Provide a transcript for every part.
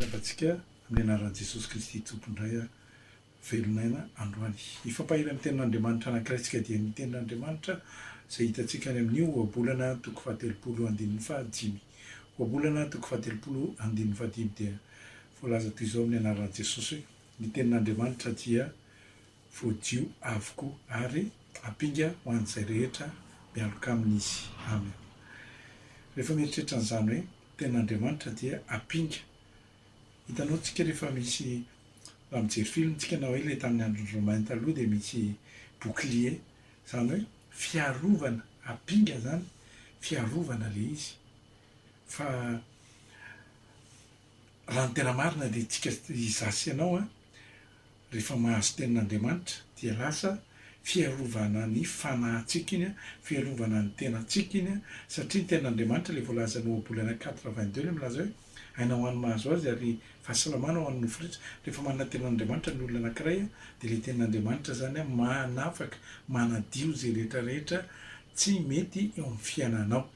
Miarabantsika amin'ny anaran'i Jesosy Kristy Tompo indray aho, velon'aina androany. Ny fampahery amin'ny Tenin'Andriamanitra anankiray-tsika dia ny Tenin'Andriamanitra izay hitantsika any amin'io Ohabolana toko fahatelopolo andininy fahadimy. Ohabolana toko fahatelopolo andininy fahadimy dia voalaza toy izao amin'ny anaran'i Jesosy hoe, Ny Tenin'Andriamanitra dia voadio avokoa ary ampinga ho an'izay rehetra mialoka aminy izy. Amena. Rehefa mieritreritra an'izany hoe Tenin'Andriamanitra dia ampinga. Hitanao tsika rehefa misy raha mijery film tsika na hoe ilay tamin'ny andron'ny Romain taloha dia misy bouclier izany hoe fiarovana ampinga izany fiarovana ilay izy fa raha ny tena marina dia tsika izaho sy ianao an Rehefa mahazo tenin'Andriamanitra dia lasa fiarovana ny fanahintsika iny, fiarovana ny tenantsika iny, satria ny tenin'Andriamanitra ilay voalazan'ny Ohabolana quatre vingt deux ilay milaza hoe aina ho an'ny mahazo azy ary fahasalamana ho an'ny nofo rehetra. Rehefa manana ny tenin'Andriamanitra ny olona anankiray dia ilay tenin'Andriamanitra izany manafaka, manadio izay rehetra rehetra tsy mety eo amin'ny fiainanao.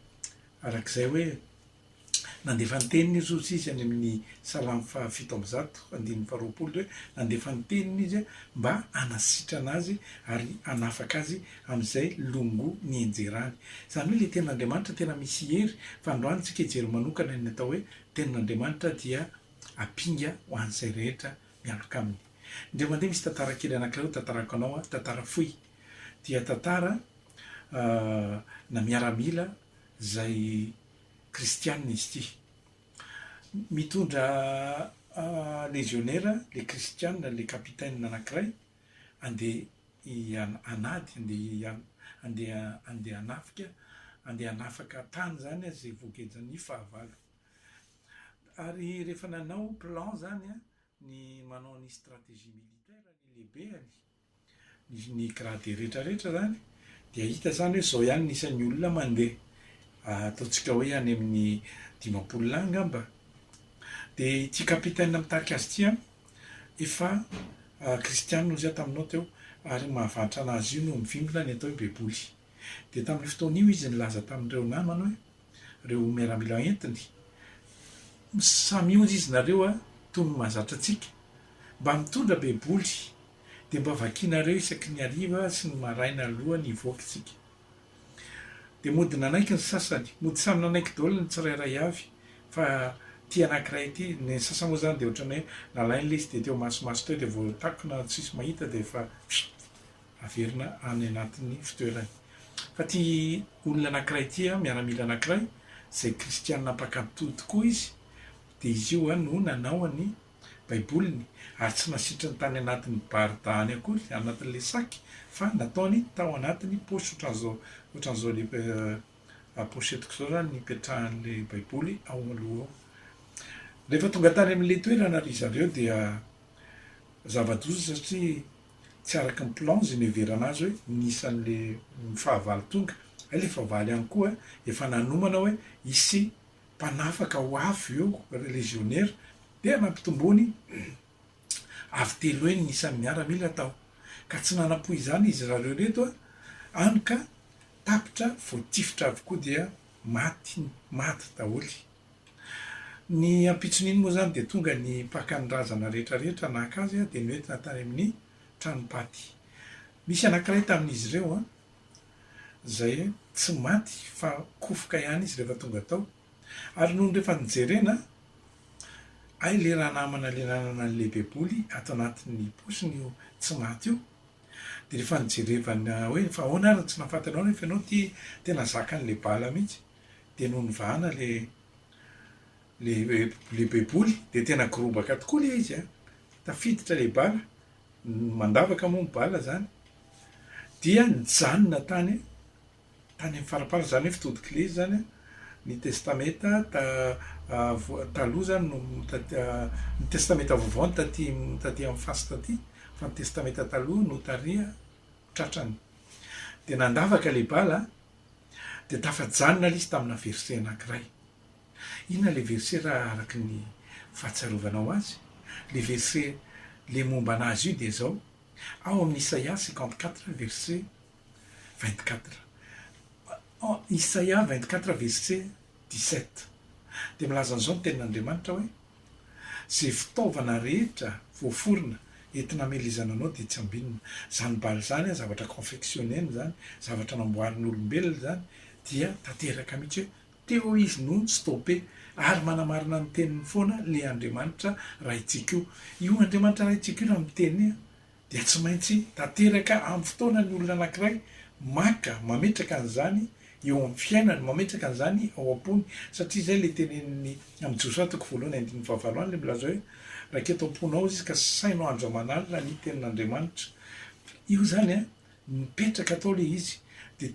Arak'izay hoe. Nandefa ny teniny izy hoy izy any amin'ny Salamo faha fito amby zato andininy faha roapolo hoe, nandefa ny teniny izy mba hanasitrana azy ary hanafaka azy amin'izay longo nihenjerany. Izany hoe ilay tenin'Andriamanitra tena misy hery, fa androany tsika hijery manokana ny atao hoe tenin'Andriamanitra dia ampinga ho an'izay rehetra miaraka aminy. Indray mandeha misy tantara kely anankiray ho tantarako anao an, tantara fohy, dia tantara na miaramila izay kristiana izy ity. Mitondra lezionera ilay kristiana, ilay kapitena anankiray, handeha hanady, handeha handeha handeha hanafika, handeha hanafaka tany izany an, izay voagejan'ny fahavalo. Ary rehefa nanao plan izany an, ny manao ny stratégie militaire ny lehibeny, ny grade rehetra rehetra izany dia hita izany hoe izao ihany ny isan'ny olona mandeha, ataontsika hoe any amin'ny dimampolo lahy angamba, dia ity capitaine mitarika azy ity efa kristianina hoy izy aho taminao teo ary ny mahavantra an'azy io no mivimbina ny atao hoe baiboly. Dia tamin'io fotoana io izy nilaza tamin'ireo namany hoe, Ireo miaramila entiny, Samy mionjy izy nareo toy ny mahazatra antsika. Mba mitondra Baiboly, dia mba vakianareo isaky ny hariva sy ny maraina alohan'ny hivoaka isika. Dia mody nanaiky ny sasany. Mody samy nanaiky daholo ny tsirairay avy fa ity anankiray ity. Ny sasany moa izany dia ohatran'ny hoe nalaina ilay izy dia teo masimaso teo dia voatakona tsisy mahita dia efa. averina any anatin'ny fitoerany. Fa ity olona anankiray ity, miaramila anankiray, izay kristiana mpankatò tokoa izy, dia izy io no nanao ny Baiboliny, ary tsy nasitriny tany anatin'ny barda any akory, anatin'ilay sac, fa nataony tao anatin'ny paosy ohatran'izao, ohatran'izao le pochetiko izao izany nipetrahan'ilay Baiboly ao aloha ao. Rehefa tonga tany amin'ilay toerana ry zareo dia zava-doza satria tsy araky ny plan zay niheverana azy hoe ny isan'le fahavalo tonga, hay le fahavalo ihany koa efa nanomana hoe hisy mpanafaka ho avy eo légionnaire dia nampitomboiny avy telo heny ny isan'ny miaramila tao ka tsy nanampo izany izy rareo reto any ka tapitra voatifitra avokoa dia maty maty daholy. Ny ampitson'iny moa izany dia tonga ny mpaka ny razana rehetra rehetra naka azy dia noentina tany amin'ny tranom-paty. Nisy anankiray tamin'izy ireo izay tsy maty fa kofoka ihany izy rehefa tonga tao. Ary nony rehefa nijerena, hay ilay ranamana ilay nanana an'ilay baiboly ato anatin'ny paosiny io tsy maty io, dia rehefa nijerevana hoe fa ahoana ary no tsy nahafantatrao nefa ianao ity tena zakan'ilay bala mihitsy. dia nony vahana ilay ilay baiboly dia tena gorobaka tokoa ilay izy an! tafiditra ilay bala, mandavaka moa ny bala izany, dia nijanona tany tany amin'ny faraparany, izany hoe fitodik'ilay izy izany an! ny testamenta taloha izany no ny testamenta vaovao no taty taty amin'ny fasy taty fa ny testamenta taloha no tariha tratrany, dia nandavaka ilay bala an! Dia tafajanona ilay izy tamina verset anankiray. Inona ilay verset raha araka ny fahatsiarovanao azy? Ilay verset ilay momba an'azy io dia izao, ao amin'ny Isaia cinquante quatre verset vingt quatre. Isaia vingt quatre verset dix sept. Dia milaza an'izao ny tenin'Andriamanitra hoe. Izay fitaovana rehetra voaforona entina hamelezana anao dia tsambinina. Izany bala izany, zavatra confectionner-na izany, zavatra namboarin'olombelona izany, dia tanteraka mihitsy hoe teo izy no ni-stopper. Ary manamarina ny teniny foana le Andriamanitra Raintsika io. Io Andriamanitra Raintsika io raha miteny hoe. dia tsy maintsy tanteraka amin'ny fotoana ny olona anankiray maka, mametraka an'izany eo amin'ny fiainany, mametraka an'izany ao am-pony, satria izay ilay tenenin'ny amin'ny Josoa toko voalohany andininy fahavalo any, ilay milaza hoe, Raika eto am-ponao izy ka saino andro aman'alina ny tenin'Andriamanitra. Io izany an, mipetraka tao ilay izy, dia.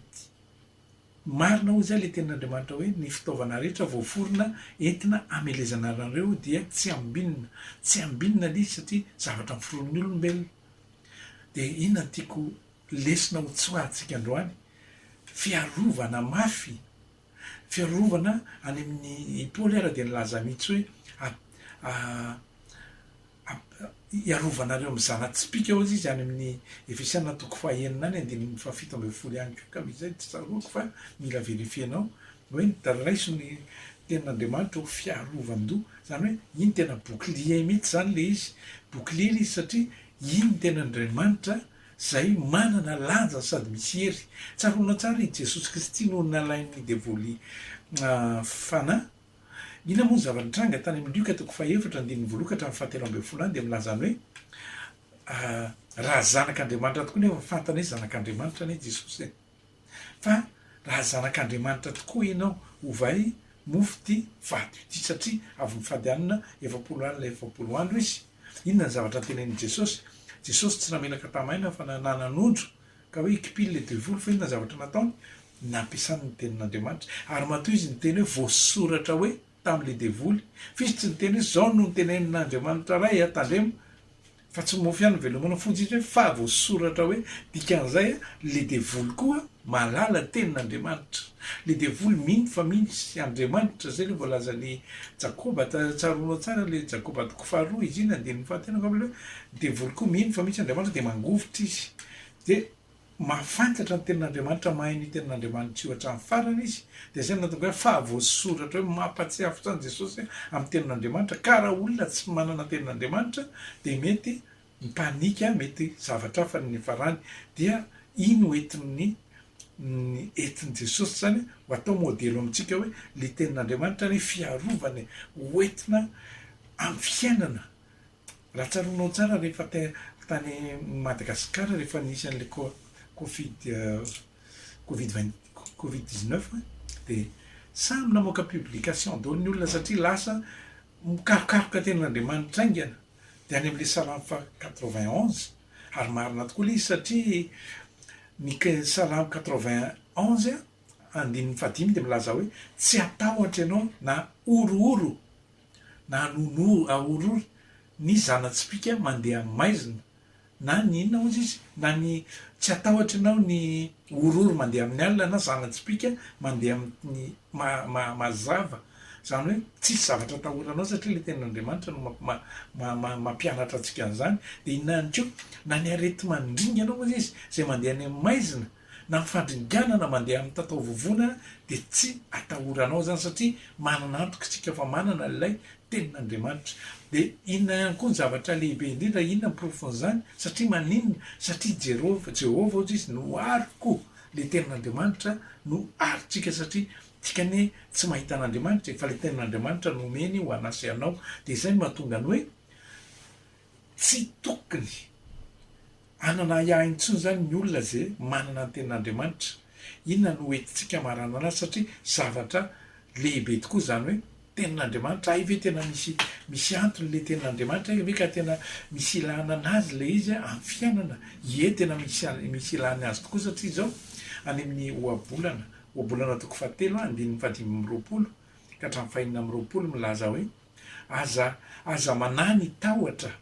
Marina hoy izay ilay tenin'Andriamanitra hoe, Ny fitaovana rehetra voaforona entina hamelezana anareo dia tsy ambinina. Tsy ambinina ilay izy satria zavatra noforonin'ny olombelona. Dia inona no tiako lesona ho tsoahantsika androany? Fiarovana mafy. Fiarovana any amin'ny, i Paoly ary dia nilaza mihitsy hoe, hiarovanareo amin'ny zana-tsipìka, hoy izy any amin'ny Efesiana toko fahaenina any andininy fahafito ambin'ny folo ihany koa, ka misy izay tsy tsaroako fa mila verifier-nao, hoe ny raiso ny tenin'Andriamanitra ho fiarovan-doha, izany hoe iny tena bouclier mihitsy izany ilay izy, bouclier ilay izy satria iny ny tenin'Andriamanitra izay manana lanja sady misy hery. Tsaroanao tsara i Jesosy Kristy no nalain'ny devoly fanahy, Inona moa ny zava-nitranga tany amin'ny Lioka toko fahefatra andininy voaloha ka hatramin'ny fahatelo ambin'ny folo any dia milaza ny hoe, Ah, raha Zanak'Andriamanitra tokoa nefa fantany hoe Zanak'Andriamanitra anie Jesosy e! Fa raha Zanak'Andriamanitra tokoa ianao, ovay mofo ity vato ity satria avy mifady hanina efapolo alina efapolo andro izy. Inona ny zavatra notenenin'i Jesosy? Jesosy tsy namelaka tamaina fa nanan'ondry ka hoe hikipily ilay devoly fa inona ny zavatra nataony? nampiasany ny tenin'Andriamanitra ary matoa izy niteny hoe voasoratra hoe tamin'ilay devoly f'izy tsy niteny hoe zao no ntenenin'Andriamanitra ray a tandremo fa tsy mofo ihany velomina fotsy izy hoe fa voasoratra hoe dikan'izay a le devoly koa malala tenin'Andriamanitra le devoly mino fa misy Andriamanitra zay le voalazan'i Jakoba tsaroanao tsara le Jakoba toko faharoa iziny andininy fahatelo angamba le devoly koa mino fa misy Andriamanitra de mangovitra izy de mahafantatra ny tenin'Andriamanitra, mahay ny tenin'Andriamanitra io hatramin'ny farany izy, dia izay no nahatonga hoe fahavoasoratra hoe mampahatsiahy fotsiny an'i Jesosy amin'ny tenin'Andriamanitra, ka raha olona tsy manana ny tenin'Andriamanitra dia mety mi-panika, mety zavatra hafa ny niafarany, dia iny ho entin'ny ny entin'i Jesosy izany ho atao modely ho amintsika hoe ny tenin'Andriamanitra anie fiarovana e, ho entina amin'ny fiainana Raha tsaroanao tsara rehefa tany Madagascar rehefa nisy an'ilay covid covid vingt covid dix neuf de samy namoaka publication daholo ny olona satria lasa mikarokaroka tenin'Andriamanitra haingana de any am'le salamo fa quatre vingt onze ary marina tokoa le izy satria ny ke- salamo quatre vingt onze andininy fahadimy de milaza hoe tsy atahotra ianao na horohoro na an'onory ahorory ny zana-tsipìka mandeha amin'ny maizina, na ny inona hozy izy, na ny tsy atahotry anao ny horory mandeha amin'ny alina na zana-tsipìka mandeha amin'ny ma-ma-mazava, izany hoe tsisy zavatra atahoranao satria ilay tenin'Andriamanitra no ma-ma-ma-mampianatra antsika an'izany, dia inona ihany koa, na ny areti-mandringana hozy izy izay mandeha any amin'ny maizina, na fandringanana mandeha amin'ny tataovovona dia tsy atahoranao izany satria manana antoka isika fa manana ilay tenin'Andriamanitra. Dia inona ihany koa ny zavatra lehibe indrindra? Inona ny porofon'izany? Satria maninona? Satria Jerofa, Jehovah hozy izy no ariko, ilay tenin'Andriamanitra no arintsika satria tsika anie tsy mahita an'Andriamanitra e, fa ilay tenin'Andriamanitra no omeny ho anà sy anao. Dia izay no mahatonga ny hoe, Tsy tokony hanana ahiahy intsony izany ny olona izay manana ny Tenin'Andriamanitra. Inona no ho entintsika maranana satria zavatra lehibe tokoa izany hoe Tenin'Andriamanitra. Hay ve tena misy misy antony ilay Tenin'Andriamanitra? Hay ve ka tena misy ilana anazy ilay izy amin'ny fiainana? Ie, tena misy misy ilany azy tokoa satria izao any amin'ny Ohabolana, Ohabolana toko fahatelo, andininy fahadimy amby roapolo ka hatramin'ny fahenina amby roapolo milaza hoe. Aza, aza manahy ny tahotra,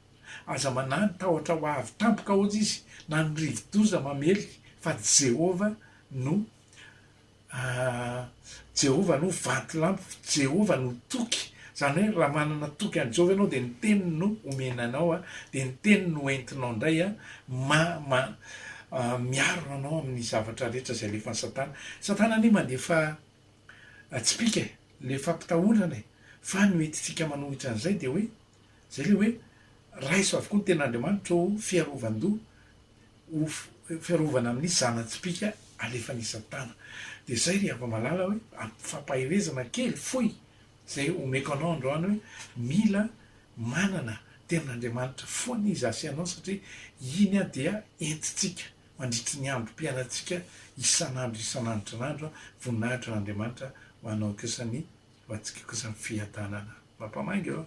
aza manahy ny tahotra ho avy tampoka hozy izy na ny rivodoza mamely fa Jehovah no ahh Jehovah no vatolampy, Jehovah no toky, zany hoe raha manana toky an'i Jehovah ianao dia ny teniny no omena anao a, dia ny teniny no entinao indray a, ma, ma, miaro anao amin'ny zavatra rehetra izay alefan'i satana, satana anie mandefa, Tsipika e! le fampitahorana e! fa ny hoentintsika manohitra an'izay dia hoe, izay ilay hoe, raiso avokoa ny tenin'Andriamanitra ô fiarovan-doha, ho fiarovana amin'ny zana-tsipika alefan'i Satana. Dia izay ry hava-malala hoe, amim-pifampaherezana kely fohy izay omeko anao androany hoe, mila manana tenin'Andriamanitra foana izaho sy ianao satria iny dia entintsika. Mandritry ny androm-piainantsika isan'andro isan'andron'andro, voninahitra an'Andriamanitra ho anao kosa ny ho antsika kosa ny fiadanana. Mampamainga ô!